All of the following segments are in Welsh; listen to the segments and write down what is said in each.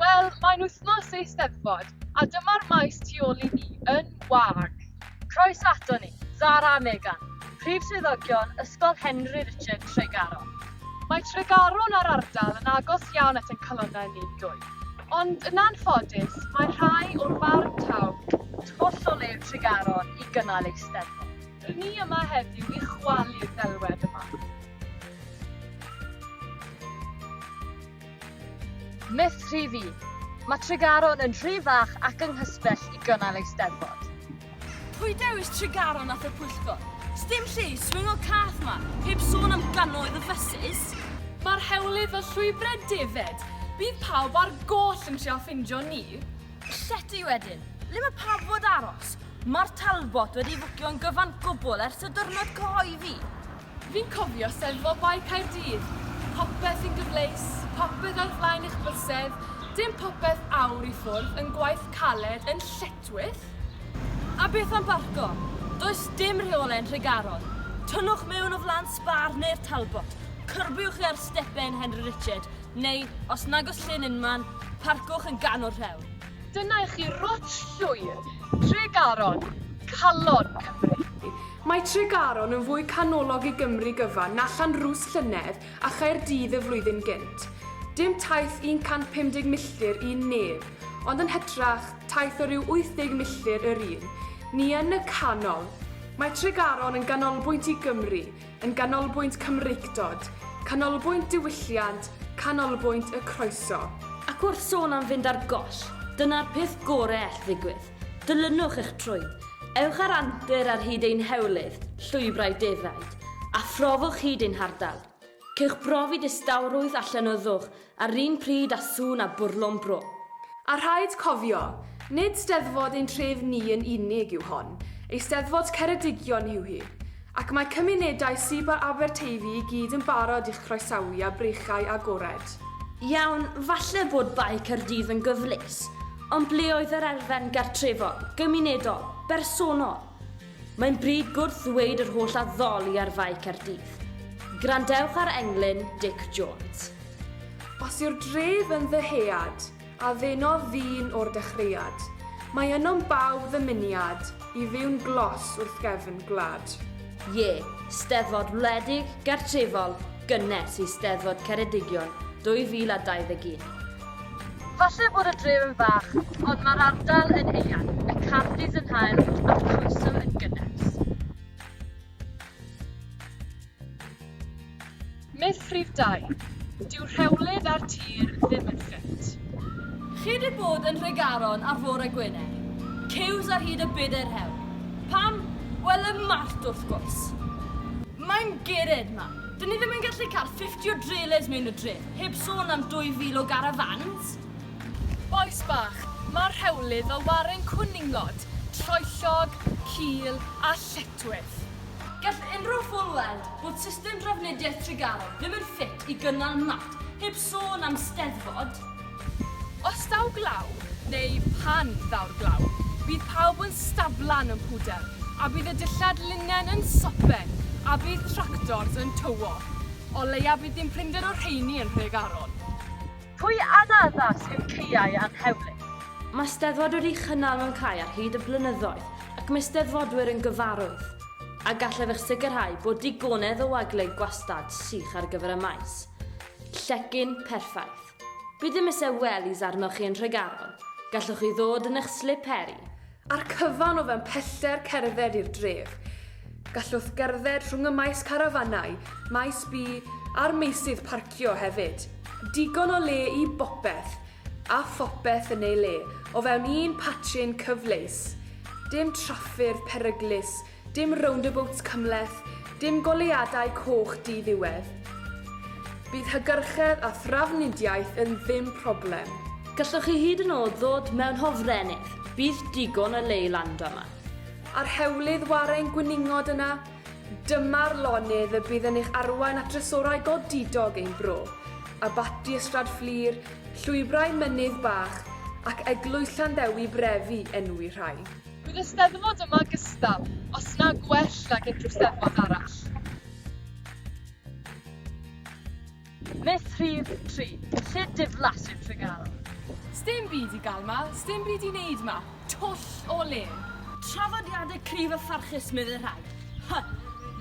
Wel, mae'n wythnos eisteddfod, a dyma'r maes tu ôl i ni yn wag. Croes ato ni, Zara a Megan, prif swyddogion Ysgol Henry Richard Tregaron. Mae Tregaron a'r ardal yn agos iawn at ein calonnau ni dwy. Ond yn anffodus, mae rhai o'r farn taw tu holl o le Tregaron i gynnal eisteddfod. Dyn ni yma heddiw i chwalu'r ddelwedd yma. Myth rhif un. Mae Tregaron yn rhy fach ac yng nghysbell i gynnal eisteddfod. Pwy dewis Tregaron at y pwyllgor? Sdim lle i swingo cath ma, heb sôn am gannoedd o fysus. Mae'r hewlydd fel llwybrau defaid, bydd pawb ar goll yn trial ffindio ni. Llety wedyn. Le mae pawb fod aros? Mae'r Talbot wedi fwcio yn gyfan gwbl ers y dyrnod cyhoeddi. Fi'n cofio sefo bai Caerdydd. Popeth yn gyfleus, popeth ar flaen eich bysedd, dim popeth awr i ffwrdd yn gwaith caled yn lletwyll. A beth am barco? Does dim rheolau'n Nhregaron. Tynnwch mewn o flan Spar neu'r Talbot, cyrbiwch chi ar stepen Henry Richard, Neu, os nag oes llyn unman, parcwch yn ganol rhewl. Dyna i chi rwt llwyr Tregaron, calon Cymru. Mae Tregaron yn fwy canolog i Gymru gyfan na Llanrwst llynedd a Chaerdydd y flwyddyn gynt. Dim taith 150 milltir i un neb, ond yn hytrach, taith o ryw 80 milltir yr un. Ni yn y canol. Mae Tregaron yn ganolbwynt i Gymru, yn ganolbwynt Cymreictod, canolbwynt diwylliant, canolbwynt y croeso. Ac wrth sôn am fynd ar goll, dyna'r peth gore all ddigwydd. Dilynwch eich trwyn. Ewch ar antur ar hyd ein hewlydd, llwybrau defaid, a phrofwch hyd ein hardal. Cewch brofi distawrwydd a llenyddwch A'r un pryd â sŵn a bwrlwm bro. A rhaid cofio, nid Steddfod ein tref ni yn unig yw hon, Eisteddfod Ceredigion yw hi, ac mae cymunedau sib a Aberteifi i gyd yn barod i'ch croesawu â breichiau agored. Iawn, falle bod Bae Caerdydd yn gyfleus, ond ble oedd yr elfen gartrefol, gymunedol, bersonol? Mae'n bryd gwrth ddweud yr holl addoli ar Fae Caerdydd. Grandewch ar englyn Dic Jones. Os yw'r dref yn ddyhead, a ddenodd ddyn o'r dechreuad, mae ynom bawb ddymuniad i fyw'n glos wrth gefn gwlad. Ie, Steddfod wledig, gartrefol, gynnes i Steddfod Ceredigion 2021. Falle bod y dref yn fach, ond mae'r ardal yn eang, y cardi's yn hael a'r croeso yn gynnes. Myth rhif dau, Dyw rhewlif a'r tir ddim yn ffit. Chi 'di bod yn Nhregaron ar fore Gwener? Ciws ar hyd y bedair hewl. Pam? Wel, y Mart, wrth gwrs. Mae'n gered 'ma. Dyn ni ddim yn gallu cael fifty o drelês mewn y dref. Heb sôn am 2,000 o garafans! Bois bach, mae'r rhewlydd fel waren cwninglod, troellog, cul a lletwith. Gall unrhyw ffwl weld bod system drafnidiaeth Tregaron ddim yn ffit i gynnal mat, heb sôn am steddfod! Os daw glaw, neu pan ddaw'r glaw, bydd pawb yn staflan yn pwdel, a bydd y dillad linen yn sopen, a bydd tractors yn tywo. O leia bydd dim prinder o'r rheini yn Nhregaron. Pwy anaddas yw caeau anhewlyd? Mae Steddfod wedi'i chynnal mewn cae ar hyd y blynyddoedd ac mae Steddfodwyr yn gyfarwydd a gallaf eich sicrhau bod digonedd o wagle gwastad sych ar gyfer y maes. Llecyn perffaith. Bydd dim isie wellies arnoch chi yn Nhregaron, gallwch chi ddod yn eich slip heri. A'r cyfan o fewn pellter cerdded i'r dref. Gallwch gerdded rhwng y maes carafanau, maes bi a'r meysydd parcio hefyd. Digon o le i bopeth a phopeth yn ei le o fewn un patrun cyfleus. Dim traffyrdd peryglus Dim roundabouts cymhleth, dim goleuadau coch di-ddiwedd. Bydd hygyrchedd a thrafnidiaeth yn ddim problem. Gallwch chi hyd yn oed ddod mewn hofrennydd, bydd digon o le i lando yma. A'r hewlydd warren gwningod yna? Dyma'r lonydd y bydd yn eich arwain at drysorau godidog ein bro, Abaty Ystrad Fflur, llwybrau mynydd bach, ac Eglwys Llanddewi Brefi, enwi rhai. Bydd y Steddfod yma gystal, os na gwell nag unrhyw Steddfod arall. Myth rhif tri, lle diflas yw Tregaron? Sdim byd i gael 'ma, sdim byd i wneud 'ma, twll o le! Traddodiadau cryf a pharchus, meddai rhai. Hy!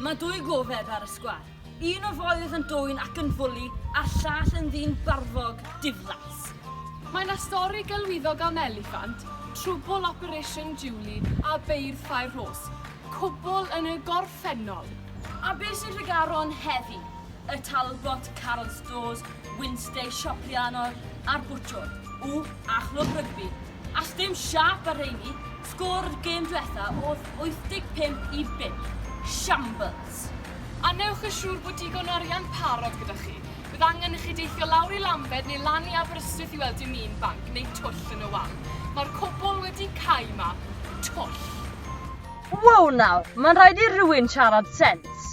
Mae dwy gofeb ar y sgwâr. Un o foedd yn dwyn ac yn fwli a'r llall yn ddyn barfog, diflas. Mae 'na stori gelwyddog am eliffant, trwbwl Operation Julie a beirdd Ffair Rhos, cwbl yn y gorffennol. A be sy'n Nhregaron heddi? Y Talbot, Carol Stores, Wynnstay, Siop Rhiannon a'r Bwtsiwr. Ww, a chlwb rygbi. All dim siâp a rheini, sgôr y gêm dwetha oedd 85 i 5. Shambles! A newch yn siŵr bod digon o arian parod gyda chi. Bydd angen i chi deithio lawr i Lambed neu lan i Aberystwyth i weld dim un banc neu twll yn y wal. Mae'r cwbl wedi cau 'ma. Twll! Wow nawr, mae'n rhaid i rywun siarad sens!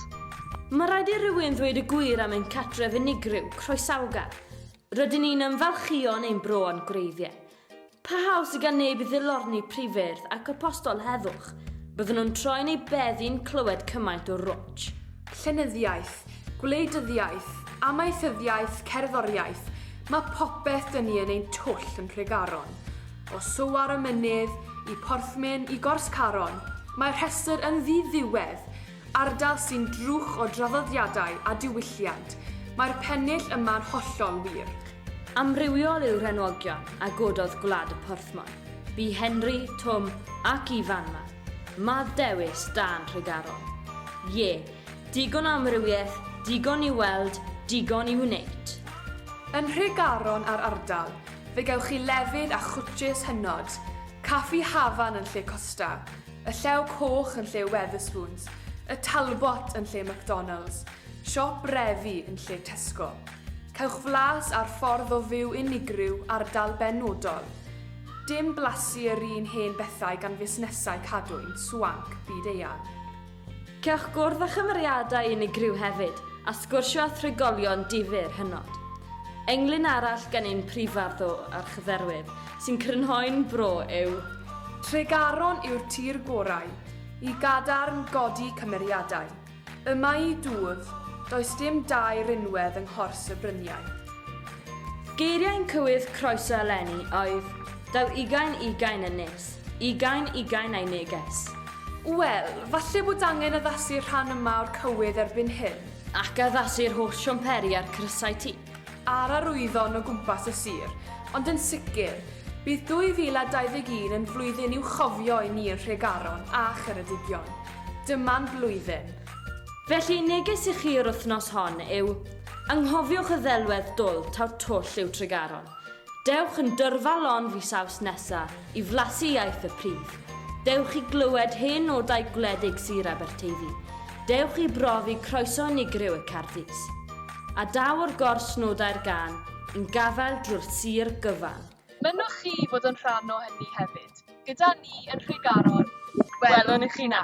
Mae rhaid i rywun ddweud y gwir am ein cartref unigryw, croesawgar. Rydyn ni'n ymfalchïo'n ein bro a'n gwreiddiau. Parhaus sydd gan neb i ddilorni prifyrdd ac apostol heddwch, byddwn nhw'n troi'n eu bedd i'n clywed cymaint o rwtsh. Llenyddiaeth, gwleidyddiaeth, amaethyddiaeth, cerddoriaeth, mae popeth 'da ni yn ein twll yn Nhregaron. O Soar y Mynydd, i Porthmyn, i Gors Caron, mae'r rhestr yn ddi-ddiwedd! Ardal sy'n drwch o draddodiadau a diwylliant, mae'r pennill yma'n hollol wir. Amrywiol yw'r enwogion a gododd Gwlad y Porthmor, bu Henry, Twm ac Ifan 'ma. Mad dewis, dân Nhregaron. Ie, digon o amrywiaeth, digon i'w weld, digon i'w wneud. Yn Nhregaron a'r ardal, fe gewch chi lefydd a chwtshys hynod, Caffi Hafan yn lle Costa, Y Llew Coch yn lle Wetherspoons, y Talbot yn lle McDonalds, siop refi yn lle Tesco. Cewch flas ar ffordd o fyw unigryw ardal benodol. Dim blasu yr un hen bethau gan fusnesau cadwyn, swanc, byd eang. Cewch gwrdd â chymeriadau unigryw hefyd, a sgwrsio â thrigolion difyr hynod. Englyn arall gan ein prifardd o Archdderwydd, sy'n crynhoi'n fro yw. Tregaron yw'r tir gorau i gadarn godi cymeriadau. Y mae i dwf, does dim dau rinwedd yng nghors y bryniau. Geiriau yn cywydd croeso eleni oedd, Daw ugain ugain yn nes, ugain ugain a'i neges. Wel, falle bod angen addasu'r rhan yma o'r cywydd erbyn hyn. Ac addasu'r holl siamperi a'r crysau ti. a'r arwyddion o gwmpas y sir, ond yn sicr, bydd 2021 yn flwyddyn i'w chofio i ni yn Nhregaron a Cheredigion. Dyma'n blwyddyn. Felly, neges i chi yr wythnos hon yw, anghofiwch y ddelwedd dwl taw twll yw Tregaron. Dewch yn dyrfa lon fis Awst nesa i flasu iaith y pridd. Dewch i glywed hen nodau gwledig Sir Aberteifi. Dewch i brofi croeso unigryw y Cardis. A daw o'r gors nodau'r gân i'n gafael drwy'r sir gyfan. Mynnwch chi fod yn rhan o hynny hefyd gyda ni yn Nhregaron. Gwelwn i chi 'na!